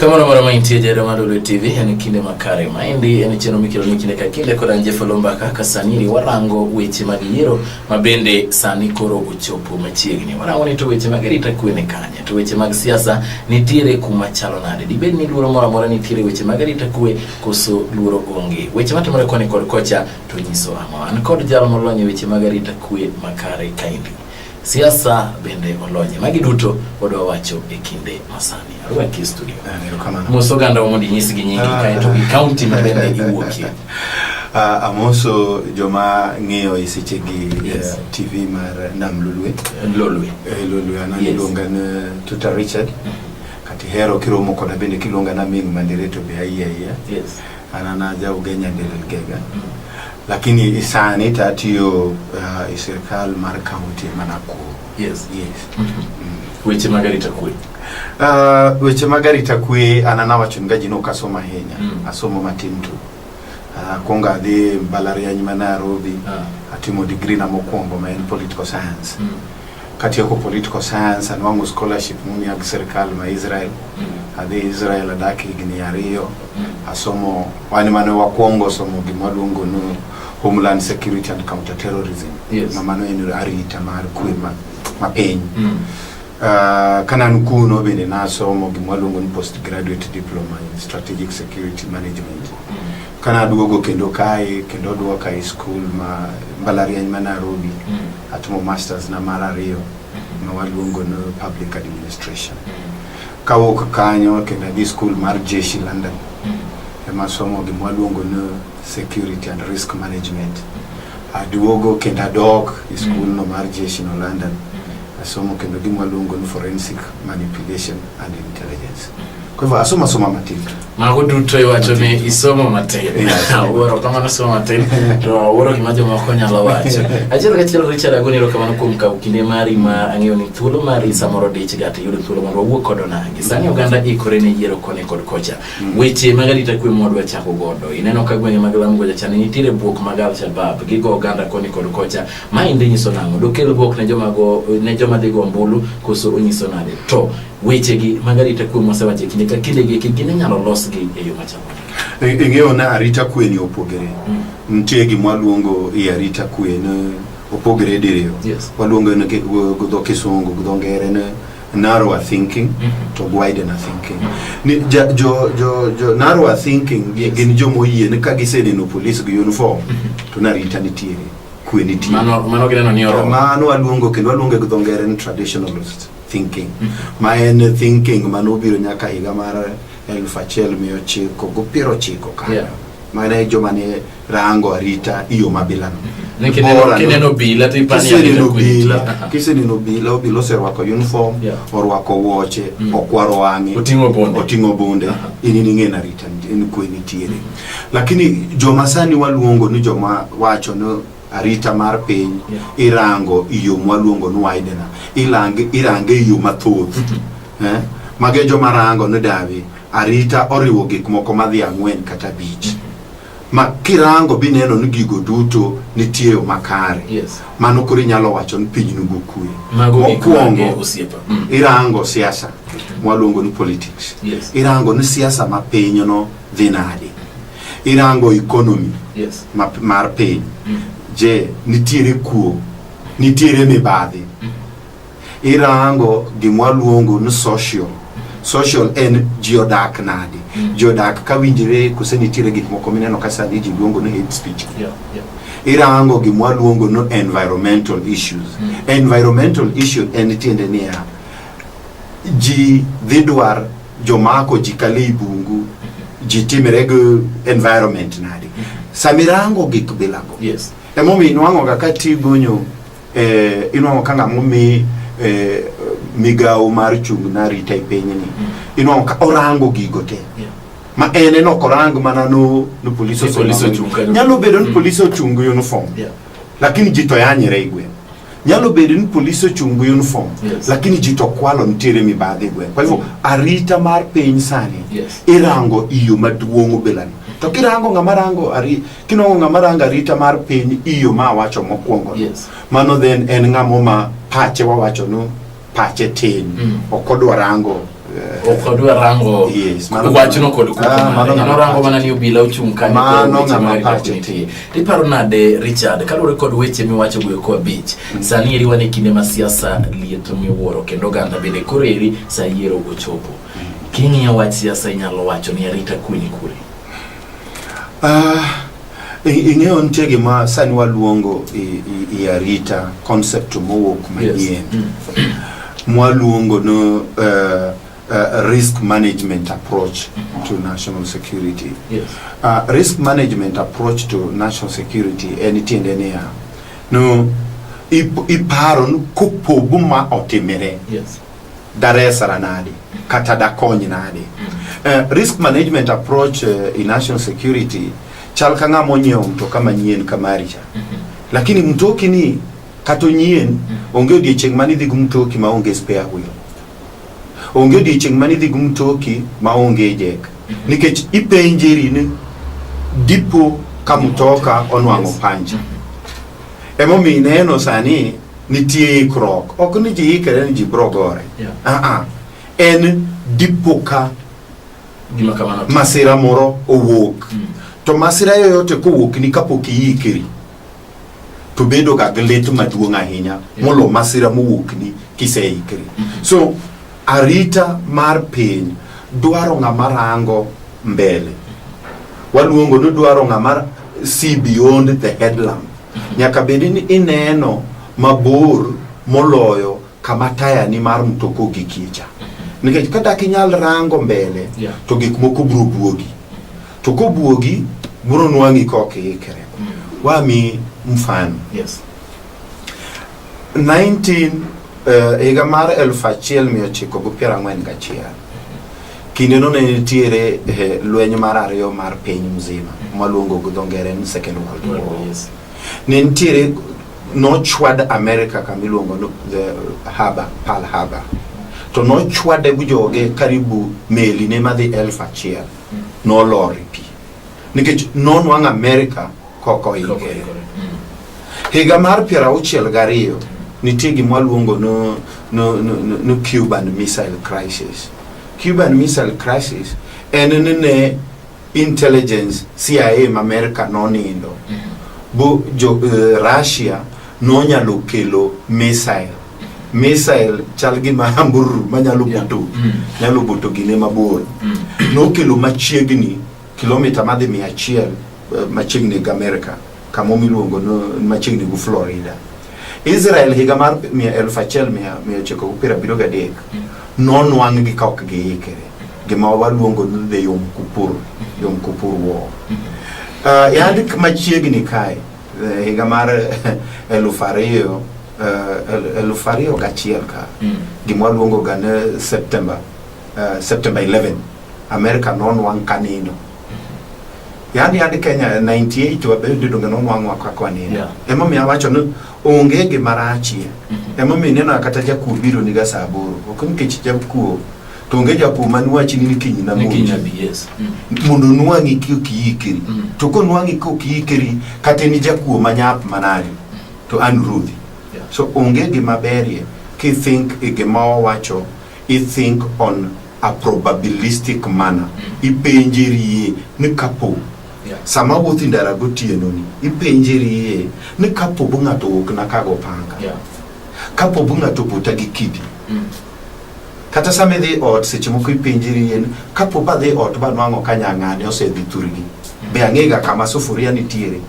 Kama na mara mainti ya jara madole TV yani kinde makare maindi yani cheno mikilo ni kinde kakinde kwa ranje folomba kaka saniri warango weche magiyero mabende sani koro uchopu machiegni warango ni to weche magirita kuene kanya To weche mag siasa nitiere kuma chalo nade? Dibed ni luoro moro amora nitiere weche mag arita kwe koso luoro onge? Weche matimore koni kod kocha to nyiso ang'o? An kod jal molony e weche mag arita kwe makare kaendi. Siasa bende olonye. Magi duto wadwa wacho e kinde masani. Arwaki e studio. Mos oganda mondo inyisgi nyingi ah. kae to gi kaunti ma bende iwuokie. Uh, amoso joma ng'iyo e sechegi yes. uh, tv mar nam lulwe lolwe eh, lolwe an yes. iluonga ni tuta richard mm -hmm. kati hero kiromo koda bende kiluonga na ming mandire to be ayiya ayiya yes. an an aja ugenya ndelelgega mm -hmm. lakini isani tatiyo uh, e sirikal mar kaunti ma nakuru Yes, yes. Weche mag arita kwe. Uh, weche mag arita kwe an an awacho ni gaji nok asomo ahinya Mm. asomo matin tu uh, kwongo adhi mbalariany ma Nairobi Ah. atimo digri na mokwongo ma en political science Mm. katieko political science anwang'o scholarship momiya gi sirikal ma Israel Mm. adhi Israel adak higni ariyo asomo wan mane wakwongo somo gima luongo ni homeland security and counter terrorism Yes. ma mano en arita mar kwe ma, ma piny Mm. Ah, ka nan kuno bende nasomo gima luongo ni postgraduate diploma in strategic security management ka naduogo kendo kae kendo duoka e skul ma mbalariany ma nairobi Mm. atimo masters na mar ariyo ma waluongo ni public administration Kawuok kanyo kendo adhi skul mar jeshi London mm-hmm. ema somo gima waluongo ni security and risk management. Mm-hmm. Aduogo kendo adok e mm-hmm. skul no mar jeshi no London asomo kendo gima waluongo ni forensic manipulation and intelligence. Kwa hivyo asoma soma matin. Mago duto iwacho ni isomo matin. Awuoro kama nasomo matin to awuoro gima jomoko nyalo wacho. Achiel kachiel Richard agoni erokamano kuom kawo kinde mari ma ang'eyo ni thuolo mari samoro dich ga to iyudo thuolo mondo wawuo kod onagi. Sani oganda ikore ne yiero koni kod kocha. Mm. Weche mag arita kwe mwadwa chako godo. Ineno ka gwenge mag Lamu goja chani nitiere bwok mag Al-Shabab gigo oganda koni kod kocha. Ma indi nyiso nang'o? Dokel bwok ne joma go ne joma dhigo ombulu koso onyiso nade? To Wechegi mag arita kwe mosewacho e kinde ka kinde gi kigin inyalo losgi e yo machalo nade? E- eng'eyo na arita kwe ni opogore nitie gima waluongo i arita kwe ni opogore diriyo Yes. waluongo ni gi gi dho kisungu gi dho ngere ni narrower thinking Mhm. to widener thinking ni ja, jo, jo, jo narrower thinking gi- Yes. gin joma oyie ni ka giseneno police gi uniform to ni arita nitiere kwe nitiere Mano mano gineno ni oromo. mano waluongo kendo waluongo gi dho ngere ni traditionalist thinking ma en thinking mane obiro nyaka higa mar elfu achiel mia ochiko go piero ochiko kanyo Yeah. mane joma ne rango arita iyo mabilano Ni kineno- Bora no- kineno obila to ipani kiseneno arita kwe nitie. obila Aha. kiseneno obila obila oserwako uniform Yeah. orwako wuoche Mm. okwaro wang'e Oting'o bunde. oting'o bunde Aha. in in ing'e narita en kwe nitiere lakini joma sani waluongo ni joma wacho ni arita mar piny irango iyo mwaluongo ni widener ilange irange iyo mathoth eh? mage joma rango ni davi arita oriwo gik moko madhi ang'wen kata abich ma kirango bineno ni gigo duto nitie yo makare Yes. mano koro inyalo wacho ni piny nugo kue Mago gik mage mokwongo osiepa. Mm. irango siasa mwaluongo ni politics Yes. irango ni siasa ma pinyno dhi nade irango economy yes. ma, mar piny mm. je nitiere kuo nitiere mibadhi mm. irango gimwa luongo ni social social en ji odak nadi mm. ji odak ka winjire kose nitiere gik moko mineno ka sani ji luongo ni hate speech yeah, yeah. irango gimwa luongo ni environmental issues mm. environmental issue en tiende niya ji dhi dwar jomako ji kalo i bungu ji timre gi environment nadi sama irango gik bilago Yes. emomiyo inwang'oga ka tigonyo eh, inwang'o ka ng'ama omi eh, migawo mar chung' na rita e pinyni inwang'o ka orango gigo te Yeah. ma en en ok orang mana no, no police Ni police osemamo. ochung' kanyo. nyalo bedo ni police ochung' gi uniform Yeah. lakini ji to yanyre igwe nyalo bedo ni polisi ochungu uniform yes. lakini ji to kwalo nitiere mibadhi igwe kwa hivyo arita mar piny sani yes. irango iyo maduong' obelani to kirango ng'ama rango ari kinongo ng'ama rango arita mar piny iyo ma awacho mokwongo yes. mano then en ng'amo ma pache wawacho no pache tin mm. ok odwa rango eh, ok odwa rango wachno kod kuonorango ah, mana ni obila ochung' kanyopache iparo nade richard kaluwore kod weche miwacho go eko abich mm. sani eri wan e kinde ma siasa liet miwuoro kendo oganda bende koro eri sa yiero gochopo mm. king'iyo wach siasa inyalo wacho ni arita kwe ni kure Uh, ing'eyo nitie gima sani waluongo i arita concept mowuok manyien yes. mm. mwaluongo no uh, Uh, risk management approach to national security. Yes. Uh, risk management approach to national security en tiende niya no iparo ni kopogo ma otimire yes. daresara nade kata dakony nade uh, risk management approach uh, in national security chal ka ng'ama onyiewo mtoka manyien kamari cha lakini mtoki ni kata onyien onge odiechieng' mane idhi gi mtoki ma onge spare wheel onge odiechieng' mane idhi gi mtoki ma onge jek nikech ipenjeri ni dipo ka mtoka onwang'o pancha emomiyo ineno sani Nitie ikruok. Ok ni ji ikre ni ji bro gore. Yeah. Ah ah. En dipo ka Gima kamano. masira moro owuok. Mm. To masira yoyote kowuok ni kapok iikri to bedo ga gi lit maduong' ahinya Yeah. molo masira mowuok ni kiseikri. Mhm. So arita mar piny dwaro ng'ama rango mbele. Waluongo ni dwaro ng'ama see beyond the headlamp. Nyaka bed ni ineno mabor moloyo kama tayani mar mtoka ogikie cha. Nikech ka dak inyal rango mbele, Yeah. to gik moko biro buogi. To kobuogi, biro nwang'i ka ok iikre. Wami mfano. Yes. 19 eh, higa mar 1941 Kindeno ne nitiere eh, lweny mar ariyo mar piny mzima mwaluongo gi dho ngere ni second world war War, yes. ne nitiere nochwad america kama iluongo ni the harbor pearl harbor to nochwade gi joge karibu meli ne madhi elfu achiel nolor e pi nikech nonwang' america kok oikre. Higa mar piero auchiel gariyo nitie gima waluongo no, no, no, no, no Cuban Missile Crisis. Cuban Missile Crisis en ni ne intelligence CIA ma Amerka nonindo bo jo eh, Russia nonyalo kelo missile missile chal gi mahambururu manyalo Yeah. buto Mm. nyalo buto gine mabor Mm. nokelo machiegni Kilomita madhi mia achiel eh, machiegni gi Amerika kama miluongo machiegni gi Florida. Israel higa mar mia elfu achiel mia mia ochiko gi piero abiriyo gadek nonwang' gi ka ok giikre gima waluongo ni the Yom Kippur Yom Kippur War. Uh, yandi machiegni kae eh, higa mar elfu ariyo eh, elfu ariyo gachiel ka mm. gima waluongo ga ni September uh, September 11 America nonwang' ka nindo yani ad Kenya 98 wabedo donge nonwang'wa ka kwa nindo yeah. emomiyo awacho ni onge gima rachie mm -hmm. emomiyo ineno kata jakuo biro niga saa aboro ok nikech jakuo to onge jakuo manwachi ni kiny na munya yes. mm. mondo nwang'i kiyikeri mm. to konwang'i kokiyikeri kata ni jakuo manyap manade mm. to an ruodhi yeah. so onge gima berie kithink e gima owacho i think on a probabilistic manner mm. ipenjerie ni kapo yeah. sama wuothi ndara gotieno ni ipenjerie ni kapo bu ng'ato wuok na kago panga yeah. kapo bu ng'ato buta gi kidi mm. kata sama idhi ot seche moko ipenjerie ni kapo ba dhi ot ba nwang'o ka nyang'ane osedhi thurgi mm. be ang'ega kama sufuria nitiere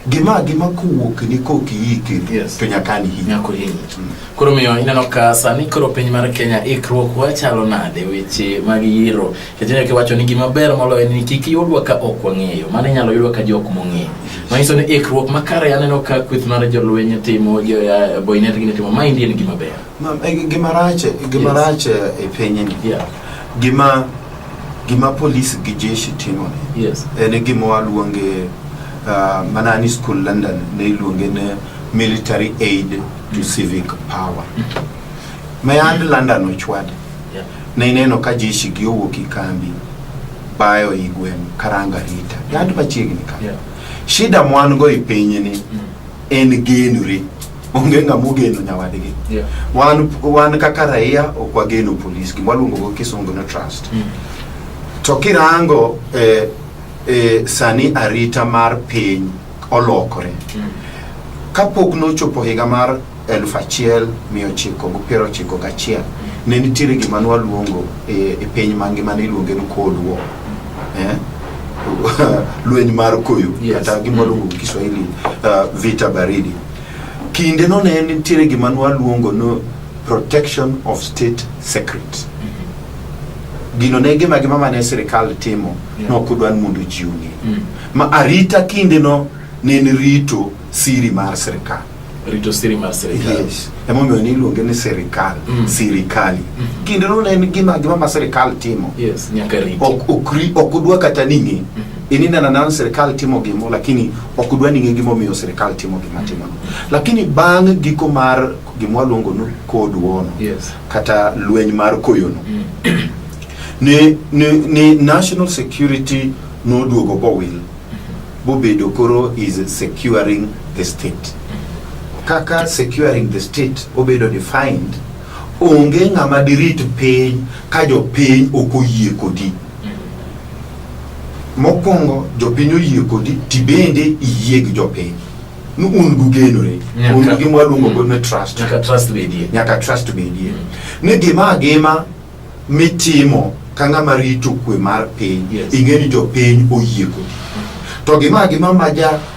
gima gima kowuok ni koki yike yes. to nyaka ni hinya ko hinya mm. koro miyo ineno ka sani koro piny mar Kenya ikruok wachalo nade weche mag yiro kete ke wacho ni gima ber moloyo ni kik yudwa ka ok wang'eyo mano inyalo yudwa ka jok mong'eyo mm. manyiso ni ikruok makare aneno ka kweth mar jolweny timo boynet gi timo ma indien gima ber Ma- e, Gima rach, gima Yes. rach e pinyni, Yeah. gima gima polis gi jeshi timo ni Yes. en e gima waluonge ah, mana ni skul London ne iluonge ni military aid to civic power. Mayand London ochwade Yeah. ne ineno ka jeshi gi owuok i kambi bayo i gweng' karanga rita yand machiegni ka Yeah. shida mwan go i pinyni Mm. en genore onge ng'ama ogeno nyawadgi yeah. wan, wan kaka raia ok wageno polis gima waluongo go kisungu no trust mm. to kirango eh, eh, sani arita mar piny olokore mm. kapok nochopo higa mar elfu achiel mia ochiko gi piero ochiko gachiel mm. ne nitiere gima nwaluongo e, eh, e piny mangima ne iluonge ni cold war mm. eh? lweny mar koyo yes. kata gima luongo mm. kiswahili uh, vita baridi Kindeno ne nitiere gima nwaluongo no protection of state secret. Gino ne gima gima mane sirikal timo Yeah. nok odwa ni mondo ji ong'e. Mm. Ma arita kindeno ne en rito siri mar sirikal. Rito siri mar sirikal. Yes. Emomiyo ne iluonge ni sirikal, Mm. sirikali. Kindeno ne en gima gima ma sirikal timo. Yes, nyaka riti. Ok ok ri- ok odwa kata ning'e. Ininena nana sirikal timo gimo lakini Ok udwa ni ng'e gimomiyo sirkal timo gima timono. Lakini bang' giko mar gima waluongo ni Cold War no, Yes. kata lweny mar koyono ni, ni, ni national security noduogo bowil bobedo koro is securing the state kaka securing the state obedo defined onge ng'ama dirit piny ka jopiny ok oyie kodi Mokwongo jopiny oyie kodi tibende iyie gi jopiny ni un gugenore un gi mwaluongo go ni trust nyaka trust bedie nyaka trust bedie ni gima agima mitimo ka ng'ama rito kwe mar piny ing'e ni jopiny oyie kodi to gima agima ma ja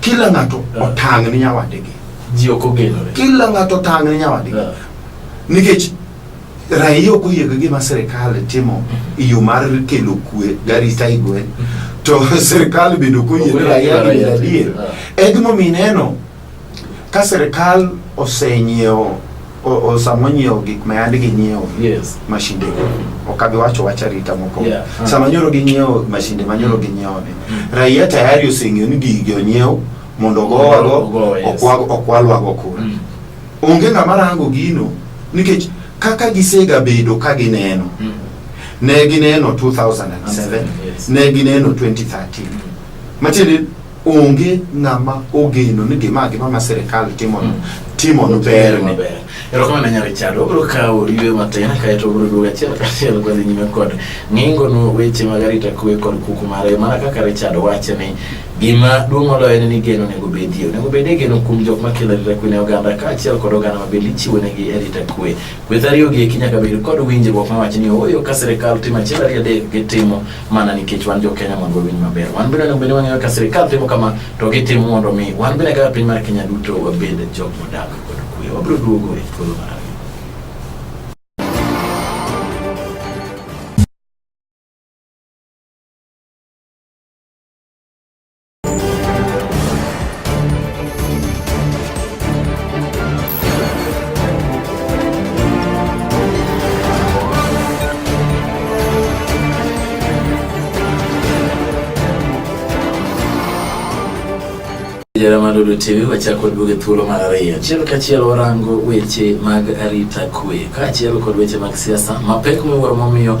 kila ng'ato Eh. otang' ni nyawadgi ji ok ogenore kila ng'ato otang' ni nyawadgi Eh. nikech raia ok oyie gi gima sirikal timo e yo mar kelo kwe garita e gweng' to sirikal bende ok oyie ni raia gi bedo adier e gimomiyo ineno ka sirikal osenyiewo O- o- sama onyiewo gik ma yandi ginyiewo Yes. mashinde ok abi wacho wach arita mokwongo Yeah. Ah. sama nyoro ginyiewo mashinde ma nyoro ginyiewo ni raia tayari oseng'eyo ni gigi onyiew mondo ogowago Ogo, yes. okwa- okwalwago kura Mm. onge ng'ama rango gino nikech kaka gisegabedo ka gineno Mm. ne gineno 2007 Yes. ne gineno 2013 matiende onge ng'ama ogeno ni gima gima ma sirikal timono timono berne Maber. Erokamano nyar Richard, wabiro kawo ywe matin kaeto wabiro duogo achiel kachiel kwadhi nyime kod ng'ingono weche mag arita kwe kod kuku mare mana kaka Richard wacho ni gima duong' moloyo en ni geno onego bedie onego bedie geno kuom jok makelo arita kwe ne oganda kaachiel kod oganda ma bende ichiwo negi arita kwe kweth ariyo gi eki nyaka bed kod winjruok ma wacho ni ooyo ka sirikal timo achiel ariyo adek gitimo mana nikech wan jo-Kenya mondo wawinj maber. Wan bende onego bende wang'eyo ka sirikal timo kama to gitimo mondo mi wan bende kaka piny mar Kenya duto wabed jok modak kod kuwe. Wabiro duogo e thuolo mar ariyo. Jeremani Olutibi wachako kod buge thuolo mar ariyo achiel kachiel warango weche mag arita kwe kaachiel kod weche mag siasa mapek miwuoro momiyo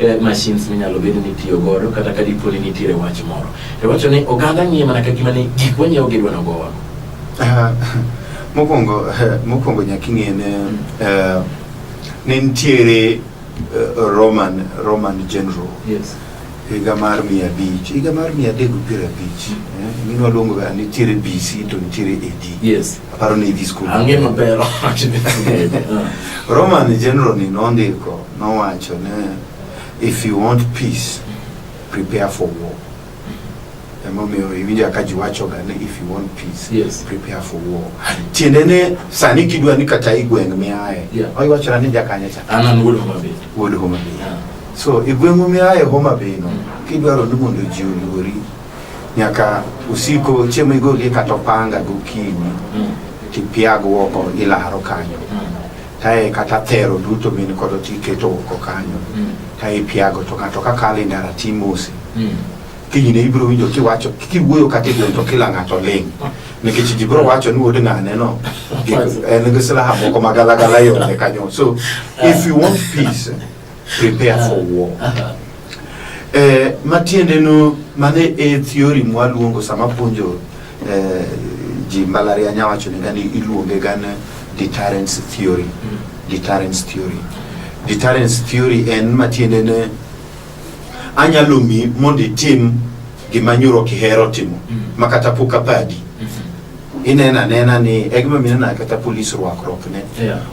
eh, machines minyalo bed ni tiyo godo kata ka dipo ni nitiere wach moro to wacho ni oganda ng'iye mana ka gima ni gik wanyiewo gidwa nogo wago Ah, mokwongo mokwongo nyaka ing'e ne eh, ne nitiere eh, roman roman general yes higa mar mia abich higa mar mia adek gi piero abich eh, gini waluongo ga nitiere bc to nitiere ad yes aparo ni idhi skul ange maber roman general ni nondiko Nowacho ne if you want peace prepare for war. Emomiyo iwinja ka ji wachoga ni if you want peace yes. prepare for war. Tiende ne sani kidwa ni kata igweng' miaye yeah. oiwachona ni jakanye cha an an wuod Homa Bay. Wuod Homa Bay. Yeah. So igweng'u miaye Homa Bay no mm. kidwaro ni mondo ji oluori nyaka usiko chiemo igolie kata opanga gokinyi mm. tipiag woko ilaro kanyo mm. Kae kata thero duto min kodo to iketo oko kanyo mm. ka ipiago to ng'ato ka kalo e ndara to imose mm. kinyne ibiro winjo kiwacho kiwuoyo kata e gweng' to kila ng'ato ling' nikech ji biro wacho ni wuod ng'ane no en gi silaha moko magalagala yone kanyo so if you want peace prepare for war eh, matiende no mane e theory mwaluongo sama puonjo eh, ji mbalariany awacho ni gani iluonge gan deterrence theory mm. deterrence theory deterrence theory en matiende ne anyalo mi mondo itim gima nyoro ok ihero timo mm. ma kata pok apadi mm-hmm. inena nena ni egima minena kata polis rwakruok ne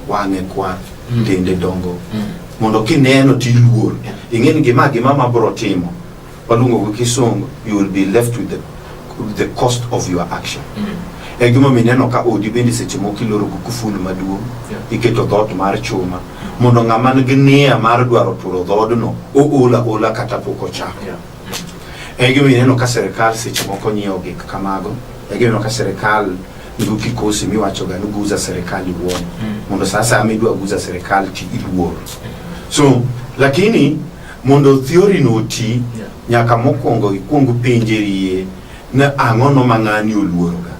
wang'e kwa Mm. tende dongo Mm. mondo kineno to iluor Yeah. ing'e ni gima gima ma bro timo waluongo gi kisungu you will be left with the, with the cost of your action Mm. e gima mineno ka odi bende seche moko iloro gi kuful maduong' Yeah. iketo dhoot mar chuma mondo ng'ama nigi nia mar dwaro turo dhoodno oola ola kata pok ochako Yeah. e gima ineno ka sirikal seche moko nyiewo gik kamago e gima ineno ka sirikal Ibu kikosi mi wacho ga nuguza serikal iwuon hmm. mondo saa saa midwa guza serikal ti iluor so lakini mondo theory no ti nyaka mokwongo ikwong penjerie ni ang'o no ma ng'ani oluoroga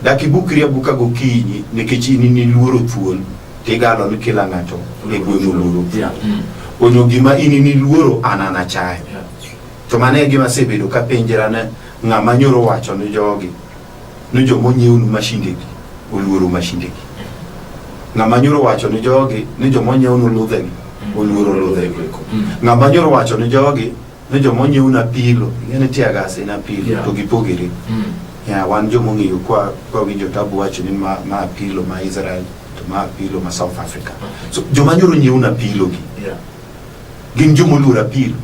dak ibukri abuka gokinyi nikech in niluoro thuol tigalo ni kila ng'ato e gweng' oluoro hmm. onyo gima in niluoro an anachayo to mano e gima asebedo kapenjera ne ng'ama nyoro wacho ni jogi ni joma onyiewnu mashindegi oluoro mashindegi. Ng'ama nyoro wacho ni jogi ni joma onyiewnu ludhegi oluoro ludhego eko. Mm. Ng'ama nyoro wacho ni jogi ni joma onyiewnu apilo, ing'eni tear gas en apilo Yeah. to gipogere. Mm. Ya, wan joma ong'eyo kwa kwawinjo tabu wacho ni ma, ma apilo ma Israel to ma apilo ma South Africa. So joma nyoro nyiewnu apilogi Yeah. gin joma oluoro apilo.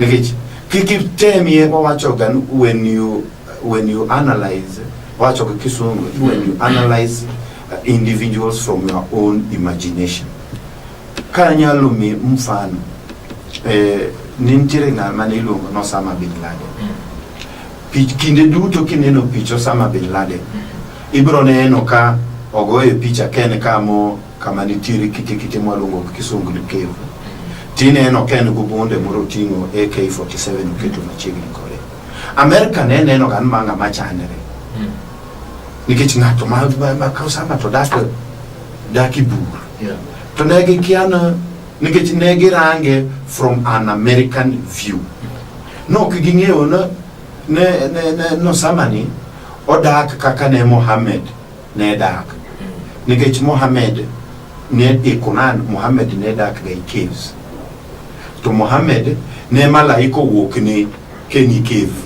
nikech kikitemie wawachoga when you, when you analyze wawachoga kisungu when you analyze uh, individuals from your own imagination kanyalo mi mfano eh, nintiere ng'al mane iluongo ni Osama bin Laden Pich, kinde duto kineno pich Osama bin Laden ibiro neno ka ogoye picha ken kamo kama nitiere kite kite mwaluongo gi kisungu ni cave tineno ka en gobonde moro oting'o AK47 oketo machiegni kode Amerika ne neno gan ma ng'ama chandre nikech ng'ato ma ma- ma kawo sama to dak dak i bur Yeah. to ne gikia na nikech ne girange from an American view no ok ging'eyo na ne ne ne no sama ni odak kaka ne Mohammed ne dak. Nikech Mohammed ne e Quran, Mohammed ne dak ga e caves. To Mohammed ne malaika owuok ne keni cave.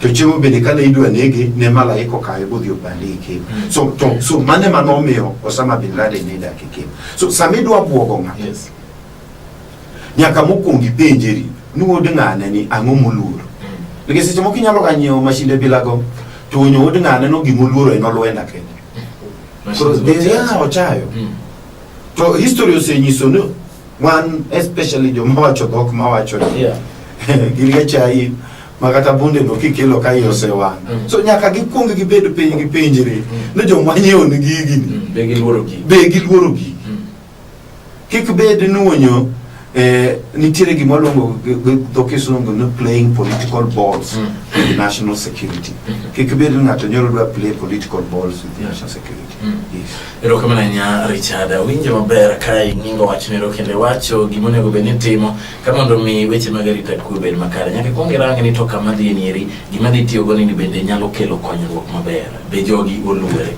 To chiemo bende kane idwa nege ne malaika okawe bodhi obande e cave. Mm. So to so mane mano omiyo Osama bin Laden ne dak e cave. So sama idwa buogo ng'ato yes. nyaka mokwongo ipenjeri ni wuod ng'ane ni ang'o moluoro nikech seche moko inyalo ga nyiewo mashinde bilago to onyo wuod ng'ane no gimoluoro en olwenda kende Koro, eh, yeah, ochayo to history osenyiso ni wan especially joma wacho dhok mawacho ni Yeah. gin ga chai ma kata bunde no kikelo ka iye osewang' Mm. so nyaka gikwong gibed piny gipenjre Mm. ni joma nyiewo ni gigi ni Be giluoro gi. be giluoro gigi Mm. Kik bed nuonyo eh, nitiere gima waluongo gi- gi dho kisungu ni playing political balls Mm. with national security kik bed ni ng'ato nyoro dwa play political balls with national security Mm. yes. erokamano ahinya richard awinjo maber ka ing'ingo wachnero kendo iwacho gima onego bed ni timo ka mondo mi weche mag arita kwe bed makare nyaka ikwong irange ni to kama dhi nieri gima dhi tiyogo nini bende nyalo kelo konyruok maber be jogi oluwore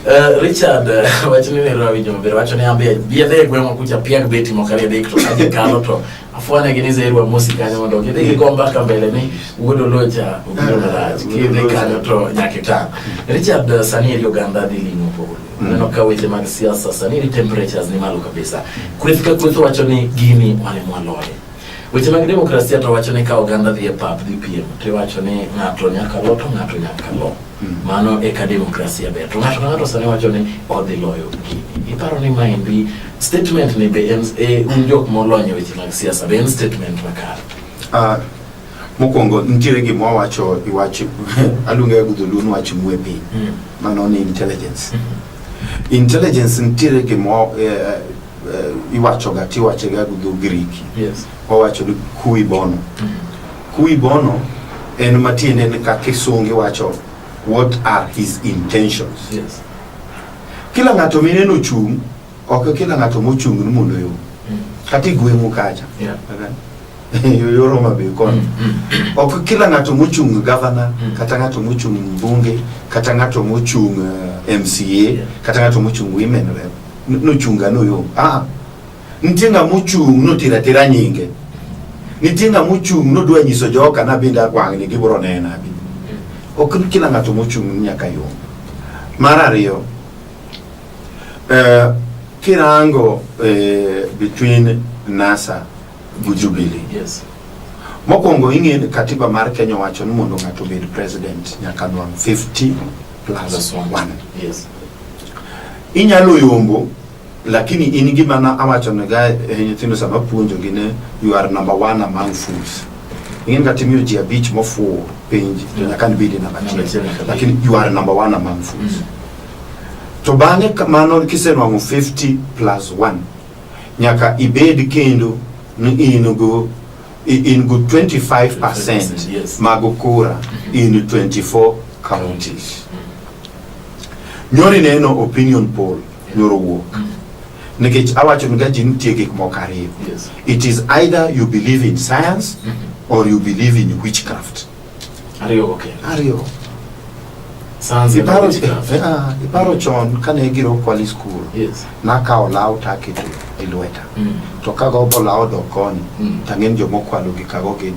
Uh, Richard uh, wacho ni nero awinjo maber wacho ni ambe biedhe e gweng'wa kucha piag beti moko ariyo adek to aje kalo to afwanya gi ni zerwa mosi kanyo mondo gidhi gigo mbaka mbele ni wuod olocha obiro marach kidhi kanyo to nyaka itang' Richard uh, sani eri oganda dhi limo polo neno ka weche mag siasa sani eri temperatures ni malo kabisa kweth ka kweth wacho ni gini walemwa loye Weche mag demokrasia to wacho ni ka oganda dhi e pap dhi piem to iwacho ni ng'ato nyaka lo to ng'ato nyaka lo. Hmm. Mano e ka demokrasia ber. To ng'ato ka ng'ato sani wacho ni odhi loyo gini. Iparo ni maendi statement ni be en e, un jok molony e weche mag siasa be en statement makare? Uh, mokwongo nitiere gima wawacho iwacho aluonga gudholuo ni wach mwe piny hmm. mano ni intelligence hmm. Intelligence nitiere gimo eh, eh, eh, iwachoga tiwachega gi dho Griki. Yes. Wawacho ni kui bono. Mm. Kui bono en matiende ni ka kisungi wacho what are his intentions. Yes. Kila ng'ato mineno chung' ok kila ng'ato mochung' ni mondo yo. Mm. Kata igweng'u kacha. Yeah. Okay. yoro mabe kono mm, mm, mm. ok kila ng'ato mochung' gavana kata ng'ato mochung' mbunge kata ng'ato mochung' eh, MCA kata ng'ato mochung' women rep nochunga noyom ah nitie ng'a mochung' notira tira nyinge nitie ng'a mochung' nodwa nyiso joka na bende akwang'ni gibro nena bi ok kila ng'ato mochung' nyaka yom mar ariyo eh, kirango eh, between NASA gi Jubilee. Yes. Mokwongo ing'e ni katiba mar Kenya wacho ni mondo ng'ato obed president nyaka nwang' 50 plus Plus one. 1. Yes. Inyalo yombo lakini in gima na awacho ne ga eh, nyithindo sama puonjo gi ne you are number one among fools. Ing'e ni kata imiyo ji abich mofuwo penj to Yeah. nyaka nibedi namba Namba achiel achiel. kabisa. Lakini you are number one among fools. Mm. To bang'e kamano kisenwang'o 50 plus 1 Nyaka ibed kendo ni in go in go 25% yes. mag kura mm-hmm. in 24 counties. Mm-hmm. Nyori neno opinion poll nyoro wuok. Mm-hmm. Nikech awacho ni gaji nitie gik moko ariyo. It is either you believe in science or you believe in witchcraft. Ariyogo kendo. Ariyo. Sanzi Iparo, College Club. eh, ah, iparo chon kane giro kwali skul Yes. nakawo law taketo e lweta Mm. to kagombo law dok koni Mm. tang'eni jomokwalo gi kago gin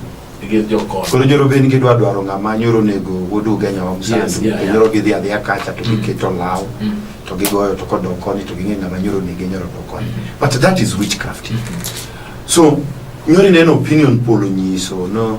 Gi jokon. koro joro ben gidwa dwaro ng'ama nyoro onego wuod ugenya wa Yes, yeah, msandu yeah. nyoro gidhi adhiya kacha to Mm. giketo law Mm. to gigoyo to kodok koni to ging'e ng'ama nyoro onege nyoro dok koni but that is witchcraft so nyoro ineno opinion poll onyiso no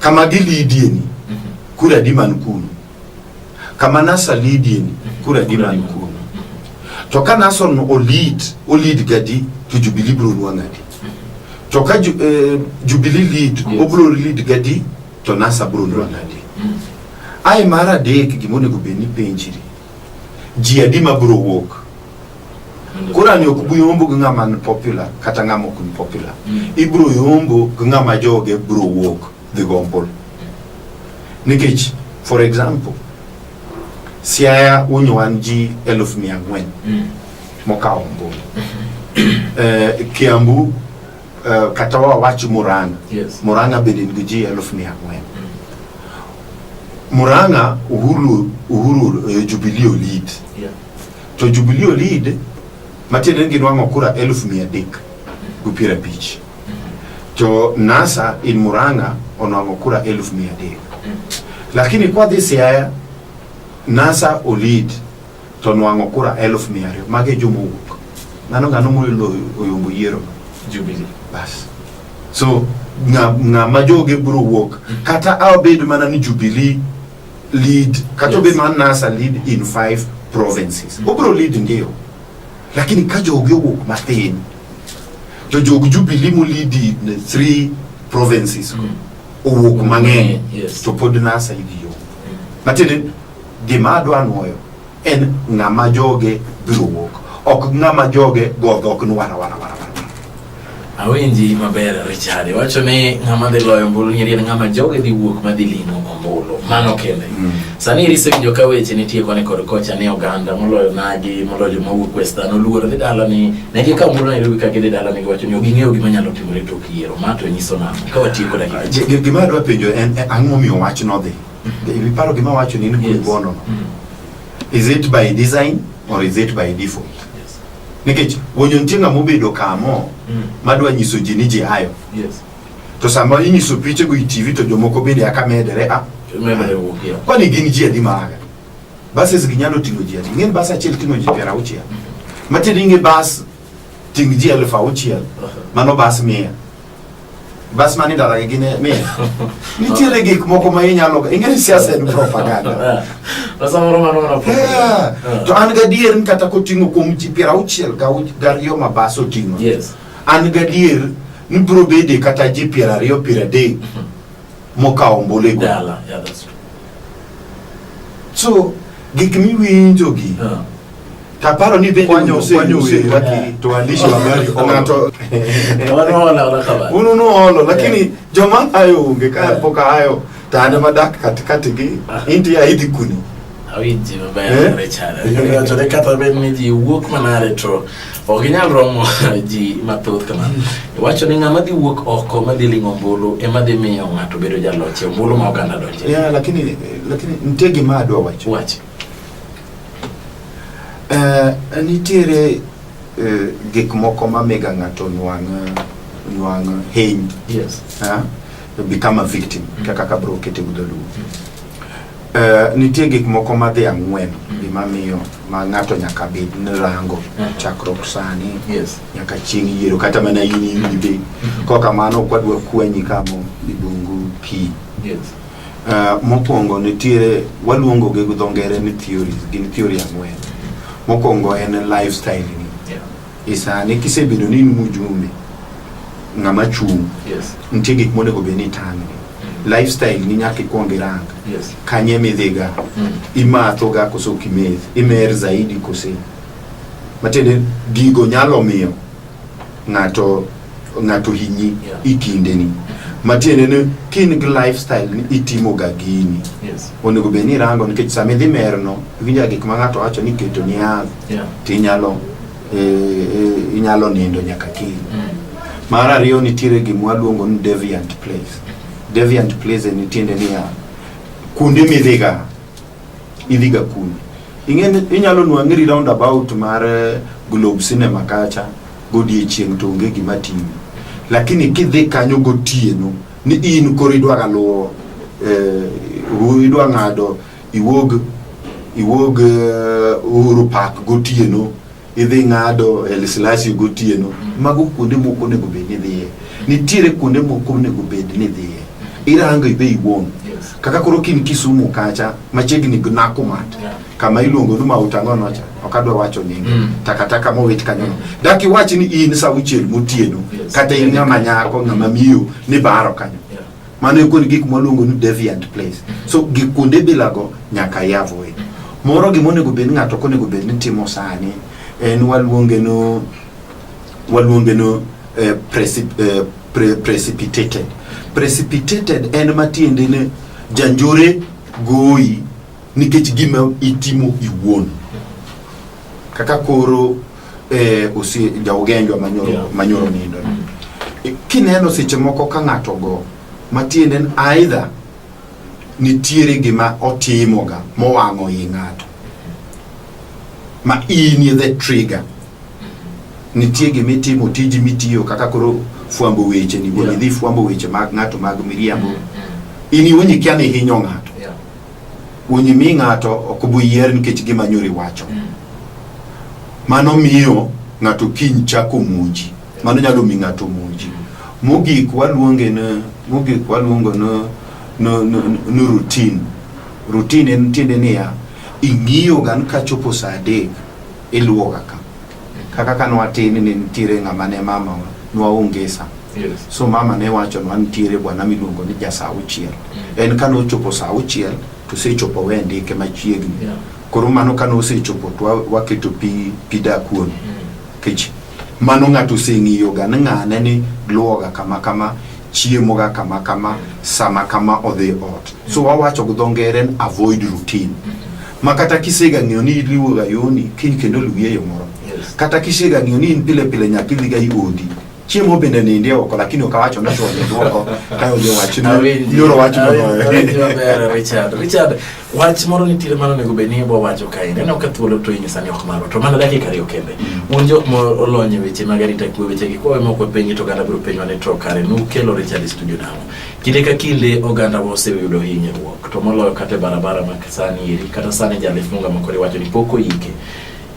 kama gilidieni kura di man kuno kama nasalidieni kura di man kuno to ka nason olid olid gadi to jubili bro nwang'adi to ka ju, eh, jubili lead Yes. obro lead gadi to nasa bro nwang'adi ai mar adek gimonego bed ni penjiri ji adi ma biro wuok koro ani ok buyombo gi ng'ama ni popular kata ng'ama ok ni popular mm. ibiro yombo gi ng'ama joge biro wuok dhi gombol nikech for example siaya unyo wan ji eluf mia ang'wen mm. mokawo ombulu mm-hmm. eh, kiambu uh, kata wawachi Murang'a yes. Murang'a bende nigi ji eluf mia ang'wen Murang'a Uhuru, Uhuru uh, Jubilee lead yeah. to Jubilee lead matiende ni ginwang'o kura eluf mia adek gi piero abich to NASA in Murang'a onwang'o kura eluf mia adek lakini kwadhi Siaya NASA olid to nwang'o kura eluf mia ariyo mago e joma owuok ng'ano ng'ano moyudo oyombo yiero Jubilee. bas so ng'a- ng'ama joge biro wuok kata abed mana ni jubilee lead kata obed Yes. mana nasa lead in five provinces obiro lead ndio lakini ka joge owuok mathin to jog jubilee molead in three provinces go, owuok mang'eny Yes. to pod nasa idhi yo matiende Gima adwa nwoyo en ng'ama joge biro wuok, ok ng'ama joge go dhok ni wara wara wara. Awinji maber Richard, iwacho ni ng'ama dhi loyo ombulu nyeri en ng'ama joge dhi wuok ma dhi limo ombulu. Mano kende. Mm. Sani iriso winjo ka weche nitie koni kod kocha ni oganda moloyo nagi moloyo joma wuok Western oluoro dhi dala ni ne gi ka ombulu Nairobi ka gidhi dala ni giwacho ni ok ging'eyo gima nyalo timore tok yiero. Ma to nyiso nang'o ka watieko dakika. Gima adwa penjo en ang'o miyo wach nodhi Ebi paro gima wacho ni ni bono. Is it by design or is it by default? Yes. Nikech wonyo nitie ng'ama obedo kamo mm. madwa nyiso ji ni ji ayo. Yes. To sama inyiso piche go TV to jomoko bende aka medere a. Medere wuokia. Kwani gin ji adi maaga? Bases ginyalo ting'o ji adi? Ng'en bas achiel ting'o ji piero auchiel. Mm. Matiende ing'e bas Ting' ji elfu auchiel. Mano bas mia. Bas mani ndara gi gine mia. Nitiere gik moko ma inyalo ing'e ni siasa en propaganda. Na samoro mano mana Yeah. propaganda. To an gadier ni kata koting'o kuom ji piero auchiel gau- gariyo ma bas oting'o. Yes. An gadier ni biro bede kata ji piero ariyo piero adek mokawo ombolego. Dala. Yeah, that's true. So gik miwinjogi Uh, Kaparo ni be kwanyo ose kwanyo ose waki to andishi wa gari onato wana wana wana kama unu no holo lakini yeah. joma ayo unge ka yeah. poka ayo tane madak katikati gi ah. inti ya idi kuni awinji baba ya eh? rechara ndio tole kata be miji wuok mana retro oginyal romo ji mathoth kama mm. wacho ni ng'ama dhi wuok oko madhi ling'o ombulu ema dhi miyo ng'ato bedo jaloch ombulu ma oganda donje yeah, lakini lakini nitie gima adwa wacho wacho Eh, nitiere eh, gik moko mamiga ng'ato nwang' nwang' hiny Yes. ah, become a victim kaka kabro kete udholuo Eh, nitie gik moko madhi ang'wen gima miyo ma ng'ato nyaka bed ni rango Mhm. chakruok sani Yes. nyaka chieng' yiero kata mana in iwinjo be kokamano kwadwa kwenyi kamo ibungu pii Yes. Uh, mokwongo nitiere waluongo gi dho ngere ni theories gin theory ang'wen mokwongo en lifestyle ni yeah. isani e kisebedo ni in mujumbe ng'ama chung' yes. nitie gik monego bed ni tang'ni mm. lifestyle ni nyaka ikwong irang yes. kanye midhiga mm. imathoga koso kimeth imer zaidi kose matiende gigo nyalo miyo ng'ato ng'ato hinyi yeah. i kindeni matiende ni ka in gi lifestyle ni itimoga gini yes. onego bed ni irango nikech sama idhi merno iwinja gik ma ng'ato wacho ni keto ni adh yeah. to inyalo e, e, inyalo nindo nyaka kiny mm. mar ariyo nitiere gimwa luongo ni deviant place deviant place en tiende niya kuonde midhiga idhi ga kuni ing'eni inyalo nwang'iri round about mar eh, globe cinema kacha godiechieng' to onge gima timi lakini kidhi kanyo gotieno ni in koro idwaga luwo eh, u- idwa ng'ado iwuog iwuog eh, uhuru park gotieno idhi ng'ado El Silasi gotieno. Mago kuonde moko onego bed ni dhiye. Nitiere kuonde moko onego bed ni dhiye. Irango ibe iwuon. Kaka koro kin Kisumu kacha machiegni gi Nakumatt kama iluongo ni Mount Ang'ono cha ok adwa wacho nyinge Mm. takataka mowit kanyono. Dak iwach ni in saa auchiel motieno Yes. kata in ng'ama nyako ng'ama miyo ni baro kanyo. mano e kuonde gik mwaluongo ni deviant place so gik kuonde bilago nyaka yavoe moro gima onego bed ni ng'ato ok onego bed ni timo sani en waluonge no waluonge no eh, preci- eh, pre- precipitated precipitated en matiende ni janjore goyi nikech gima itimo iwuon kaka koro eh, osie jaugenjwa manyoro Yeah. manyoro nindo Eh, kineno seche moko ka ng'ato go matiende ni aidha nitiere gima otimoga mowang'o i ng'ato ma inie the trigger nitie gima itimo tiji mitiyo kaka koro fwambo weche ni Yeah. idhi fwambo weche mag ng'ato mag miriambo in iwinji kia ni hinyo ng'ato Unyimi ng'ato ok buyier nikech gima nyori wacho. Mm. Mano miyo ng'ato kiny chako muji. Mano nyalo mi ng'ato muji. Mm. Mogik waluonge ni mogik waluongo ni no, no, no routine. Routine en tiende niya ing'iyo gan kachopo saa adek iluwoga ka. Kaka ka nwatini ne nitiere ng'ama ne mama nwaongesa. Yes. So mama ne wacho nwa nitiere bwana miluongo ni ja saa auchiel. Mm. En ka nochopo saa auchiel to sechopo we ndike machiegni. Yeah. Koro mano ka nosechopo to waketo pi, pi dakuon. Mm. Kech mano ng'ato oseng'iyoga ni ng'ane ni luwoga kama kama chiemo ga kama kama sama kama odhi ot so wawacho gi dho ngere ni avoid routine ma kata kisega ng'eyo ni iriwo ga yoni kiny kendo luwi e yo moro Yes. kata kisega ng'eyo ni in pile pile nyaka idhi ga i odi chiemo bende ninde oko lakini ok awacho ni to ninde oko kayo jo wach Awinji. ni yoro wach Awinji, awinji no maber Richard. Richard, Wach moro nitiere mano nego bed ni wawacho kae neno ka thuolo to inyo sani ok maro to mana dakika ariyo kende mm. un jok molony e weche mag arita kwe weche gi kwawe moko penji to oganda biro penjwa ni to kare nukelo Richard e studio nang'o kinde ka kinde oganda wa oseyudo hinyruok to moloyo kata e barabara ma sani eri kata sani jalif munga mokore wacho ni pok oyike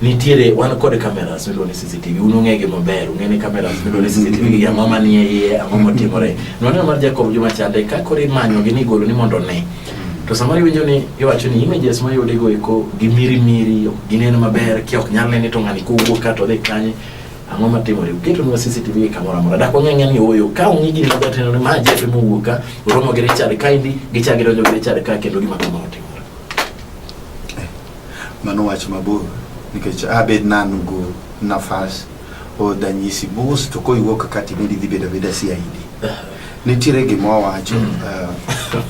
nitiere wan kod cameras miluongo ni CCTV un ung'e gi maber ung'e ni cameras miluongo ni CCTV gi ang'o ma nie iye ang'o motimore nwaneno mar Jacob Juma Chande ka koro imanyo gi ni golo ni mondo ne to samoro iwinjo ni iwacho ni images ma yude go eko gi miri miri ok ginen maber ki ok nyal nene to ng'ani kowuok ka to dhi kanye ang'o ma timore uketo nwa CCTV gi kamoro amora dak wang'e ang'e ni oyo ka ung'i gini maber tendo ni ma jefe mowuok ka oromo gi Richard kaendi gichak gidonjo gi Richard ka kendo gima kamoro timore Mano wach mabor nikech abed nanu go nafas o danyisi mos to koiwuok kati bedi dhi bedo abeda CID. Nitiere gima owacho uh,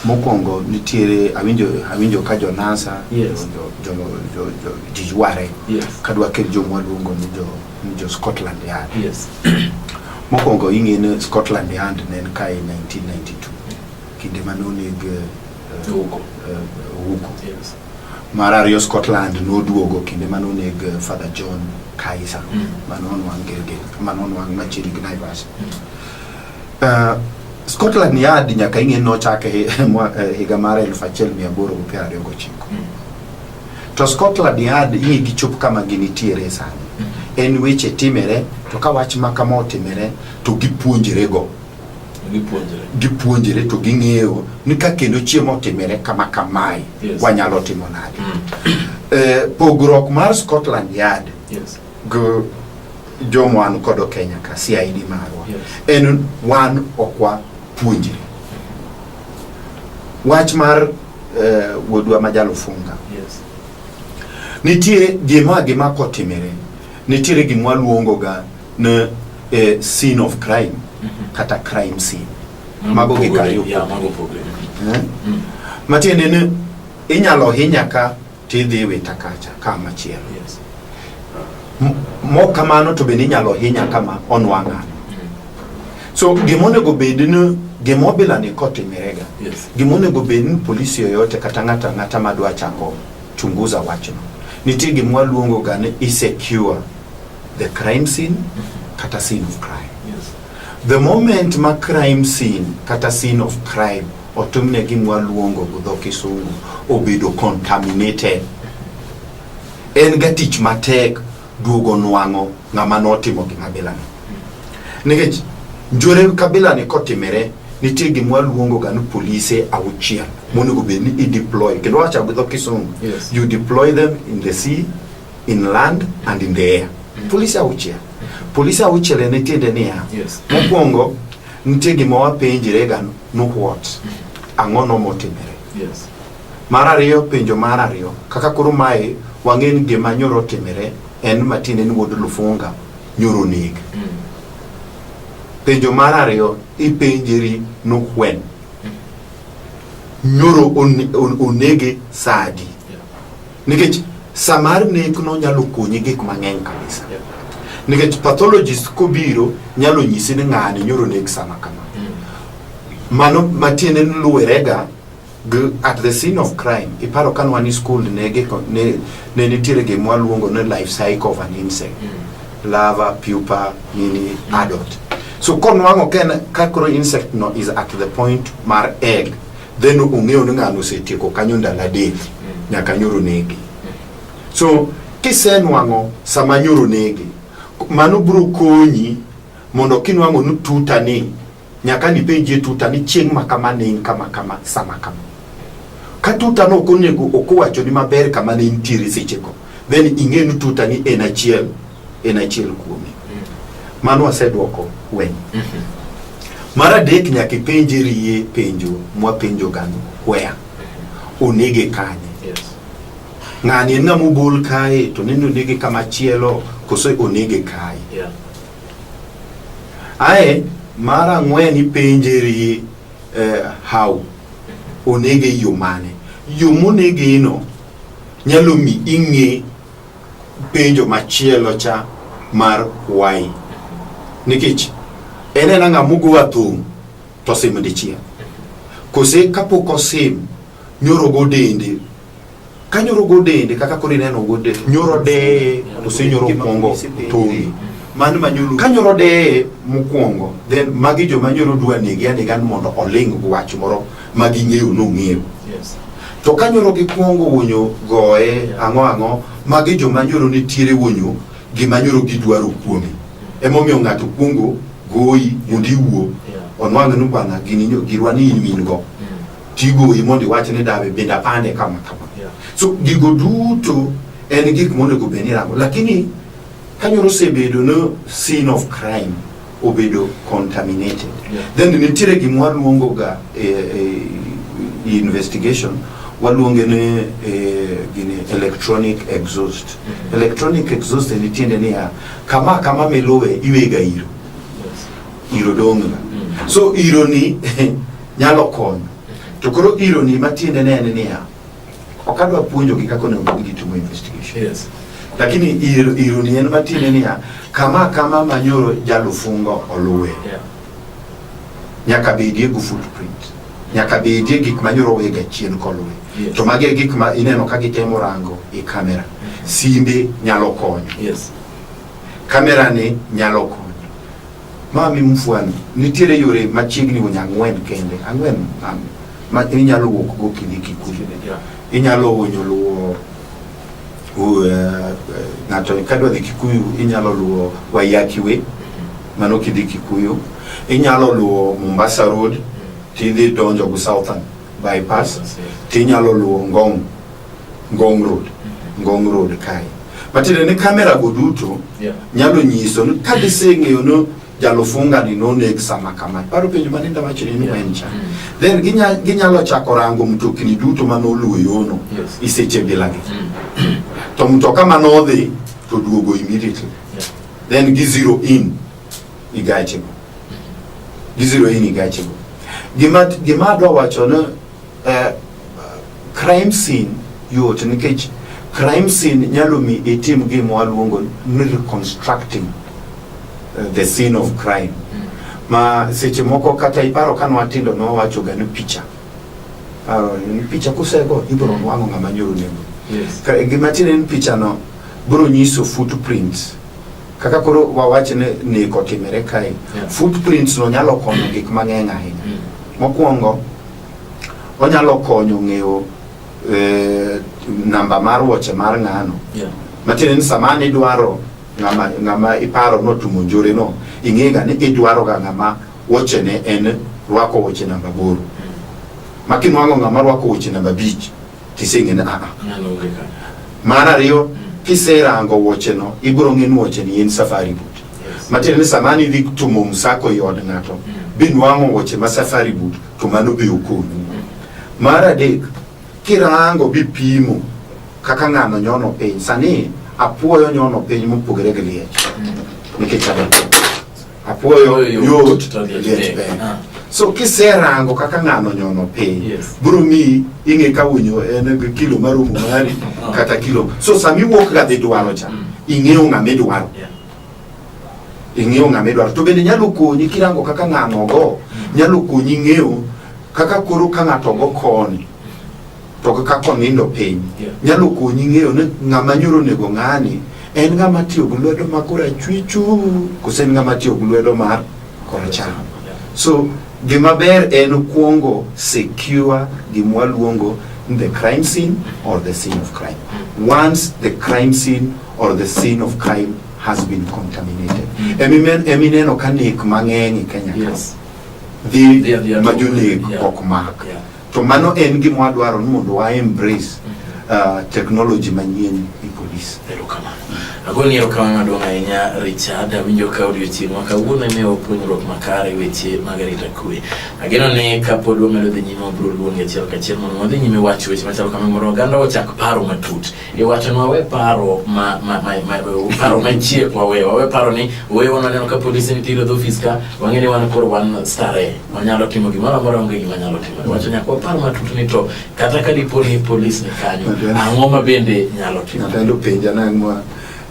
mokwongo nitiere awinjo awinjo ka jo NASA Yes. jo jo jo jo jiyware Yes. kadwa kel jo mwaluongo ni jo ni jo Scotland Yard. Yes. Mokwongo ing'e ni Scotland Yard ne en kae 1992 kinde mane oneg eh, Jogo owuok Uthens. Mar ariyo Scotland noduogo kinde mane oneg eh, Father John Kaiser Mm. mane onwang' Gilgil, mane onwang' machiegni gi Naivasha. Eh, Scotland Yard nyaka ing'e nochake hi- mwa- eh, higa mar elfu achiel mia aboro gi piero ariyo gochiko. Mm. To Scotland Yard ing'e gichop kama ginitiere sani. En weche timere to ka wach ma kama otimere to gipuonjrego. gipuonjre gipuonjre to ging'eyo ni ka kendo chiemo otimire kama kamae yes. wanyalo timo nade mm. eh, pogruok mar Scotland Yard yes. go jomo an kodo Kenya ka CID marwa yes. en wan okwa puonjre wach mar eh, wuodwa ma jalofunga yes. nitie gima gima kotimire nitiere gima waluongoga ne eh, scene of crime mhm. kata crime scene mago gik ariyo eh? mm. matiende ni inyalo hinya ka tidhi wita kacha ka machielo yes. mok kamano to bende inyalo hinya kama onwang'ano mm. so gima onego bed ni gima obila ni kotimirega yes. gima onego bed ni polisi yoyote kata ng'ata ng'ata madwa chako chunguza wachno nitie gima waluongo ga ni isecure the crime scene kata scene of crime yes. the moment ma crime scene kata scene of crime otimne gimwa luongo gi dho kisungu obedo contaminated en ga tich matek duogo nwang'o ng'ama notimo gima bilano nikech njore kabilani kotimere nitie gimwa luongo ga ni polise auchiel monego bed ni ideploy kendo wacha gi dho kisungu yes. you deploy them in the sea in land and in the air. Mm. Polise auchiel. Polise auchiel en tiende niya, mokwongo nitie gima wapenjre ga no what mm. ang'o no motimere. Yes. Mar ariyo penjo mar ariyo kaka koro mae wang'e ni gima nyoro timere en matiende ni wuod Lufunga nyoro neg. Mm. Penjo mar ariyo ipenjeri no when nyoro onege sadi Nikech sa mar nekno nyalo konyi gik mang'eny kabisa. Nikech pathologist kobiro nyalo nyisi ni ng'ani nyoro nek sama kama. Mano matiende ni luwerega gi at the scene of crime. Iparo ka nwan e skul ne giko ne ne nitiere gima waluongo ni life cycle of an insect. Larva, pupa, nini, adult. So konwang'o ka en ka koro insect no is at the point mar egg then ong'eyo ni ng'ano osetieko kanyo ndalo adek nyaka nyoro negi so kisenwang'o sama nyoro negi mano biro konyi mondo kinwang'o ni tuta ni nyaka nipenjie tuta ni chieng' ma kama ne in kama kama sama kama ka tuta no ok onego ok owachoni maber kama ne intiere sechego then ing'e ni tuta ni en achiel en achiel kuome. Mano wasedwoko wen. Mar adek nyaka ipenje riye penjo mwapenjo gano where onege kanye Yes. ng'ani en ng'ama obol kae to nende onege kama chielo koso onege kae Yeah. ae mar ang'wen ipenje riye eh, how onege e yo mane yo monegeno nyalo mi ing'e penjo machielo cha mar why nikech en en ang'a mugo athum to sim dichiel kose kapok osim nyoro go dende ka nyoro go dende kaka koro ineno go dende nyoro deye to se nyoro kwongo thumi mano manyulu ka nyoro deye mokwongo then magi joma nyoro dwa negi anega ni mondo oling wach moro ma ging'eyo nong'eyo Yes. to ka nyoro gikwongo wonyo goye ang'o ang'o magi joma nyoro nitiere wonyo gima nyoro gidwaro kuome emomiyo ng'ato kwongo goyi mondo iwuo onwang' ni bwana gini nyo- girwa ni in min go tigoyi mondo iwach ni dawe bende apande kama kama Yeah. so gigo duto en gik monego bed ni rango lakini ka nyoro osebedo no scene of crime obedo contaminated yeah. then nitiere gima waluongo ga e, e, investigation waluonge ni e, gini electronic exhaust mm -hmm. electronic exhaust ni tiende niya kama kama miluwe iwega iro yes. iro dong'ga mm -hmm. so ironi nyalo konyo to koro ironi matiende ne en niya Ok adwa puonjogi kaka onego bed gitimo investigation. Yes. Lakini ir- ironi en matiende niya, kama kama manyoro jalufungo oluwe. Yeah. Nyaka bedie gu footprint. Nyaka bedie gik manyoro wega chien koluwe. Yes. To magi e gik ma ineno ka gitemo rango e kamera. Simbe nyalo konyo. Yes. Kamerani nyalo konyo. Mami mfwani, nitiere yore machiegni wunya ang'wen kende, ang'wen mami, ma inyalo wuok go kidhi Kikuyu. Yeah. Inyalo wuonyo luwo u- eh, eh, ng'ato kadwa dhi Kikuyu inyalo luwo Waiyaki Way, mano kidhi Kikuyu. Inyalo luwo Mombasa Road tidhi donjo go Southern bypass, tinyalo luwo Ngong Ngong Road, Ngong Road kae. Matiende ni kamera go duto Yeah. nyalo nyiso ni ka giseng'eyo ni jalofunga ni noneg sama kama. Paro penjo ma ninda wacho ni Yeah. en cha. Mm. Then ginya, ginyalo chako rango mtokni duto ma noluwo yono Yes. e seche bilagi. Mm. To mtoka ma nodhi to duogo immediately. Yeah. Then gi zero in i gache go. Gi zero in i gache go. Gima gima adwa wacho ni eh, Crime scene yot nikech crime scene nyalo mi itim gima waluongo ni reconstructing uh, the scene of crime ma seche moko kata iparo ka nwatindo nowachoga ni picha Paro ni picha kusego ibiro nwang'o ng'ama nyoro nego Yes. Ka- gima tiende ni pichano biro nyiso footprints kaka koro wawach ni nek otimore kae Yeah. footprints no nyalo konyo gik mang'eny ahinya Mm. mokwongo Onyalo konyo ng'eyo eh, namba mar wuoche mar ng'ano Yeah. matiende ni sama an idwaro ng'ama ng'ama iparo notumo njore no ing'ega ni idwaro ga ng'ama wuochene en rwako wuoche namba boro makinwang'o ng'ama rwako wuoche namba abich Kiseng'ene a a. Nyalo onge ka. Mar ariyo, kiserango wuocheno, ibiro ng'e ni wuocheni en safari boot. Yes. Matiende ni sama an idhi tumo msako e od ng'ato, Mm. binwang'o wuoche ma safari boot, to mano be okonyi. Mar adek, kirango bipimo kaka ng'ano nyono piny. Sani apuoyo nyono piny mopogore gi liech nikech adek. apuoyo yot to liech ber ah. so kiserango kaka ng'ano nyono piny yes. biro miyi ing'e ka winyo en gi kilo marumu mari ah. kata kilo so sama iwuok ga dhi dwaro cha mm. ing'eyo ng'ama idwaro yeah. ing'eyo ng'ama idwaro to bende nyalo konyi kirango kaka ng'ano go mm. nyalo konyi ng'eyo kaka koro ka ng'ato go koni to kaka konindo piny yeah. nyalo konyi ng'eyo ni ng'ama nyoro onego ng'ani en ng'ama tiyo gi lwedo ma korachwichu kose en ng'ama tiyo gi lwedo mar koracham so gima ber en kuongo secure gima waluongo the crime scene or the scene of crime mm. once the crime scene or the scene of crime has been contaminated mm. emineno ka nek mang'eny e kenya yes. dhi ma jonek ok mak yeah. To mano en gima wadwaro ni mondo wa embrace uh, technology manyien e police. Erokamano. Agoni erokamano maduong' ahinya Richard, awinjo ka odiochieng' ma kawuono imiyo puonjruok makare weche mag arita kwe. Ageno ni kapod wamedo dhi nyime wabiro luongi achiel kachiel mondo wadhi nyime wacho weche machalo kama mondo oganda ochak paro matut. E wacho ni wawe paro ma, ma, ma, ma, paro machie wawe, wawe paro ni wewe wananeno ka polisi nitiere dho ofis ka, wang'e ni wan koro wan starehe. wanyalo timo gimoro amora onge gima nyalo timo wacho nyaka wapar matut ni to kata ka dipo ni polis ni kanyo ang'o ma bende nyalo timo ng'ato elo penja nang'wa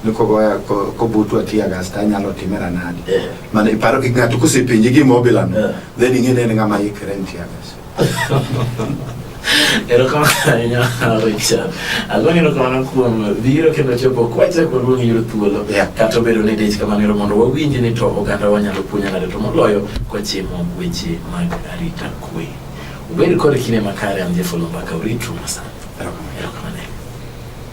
ni kogoya kobutu atiya gas to anyalo timera nadi eh. mana iparo gi ng'ato kosepenji gima obilano eh. then ing'e ni en ng'ama ikre ni tiya gas Erokamano Richard. Agoni erokamano kuom biro kendo chopo kwacha kuonde ma giyudo thuolo. Yeah. Kata obedo ni dich kamano ero mondo wawinji ni to oganda wanyalo puonyo nade to moloyo kwachimo weche mag arita kwe. Ubed kod kinde makare an Jeff Olomba Kauritu Masana. Erokamano.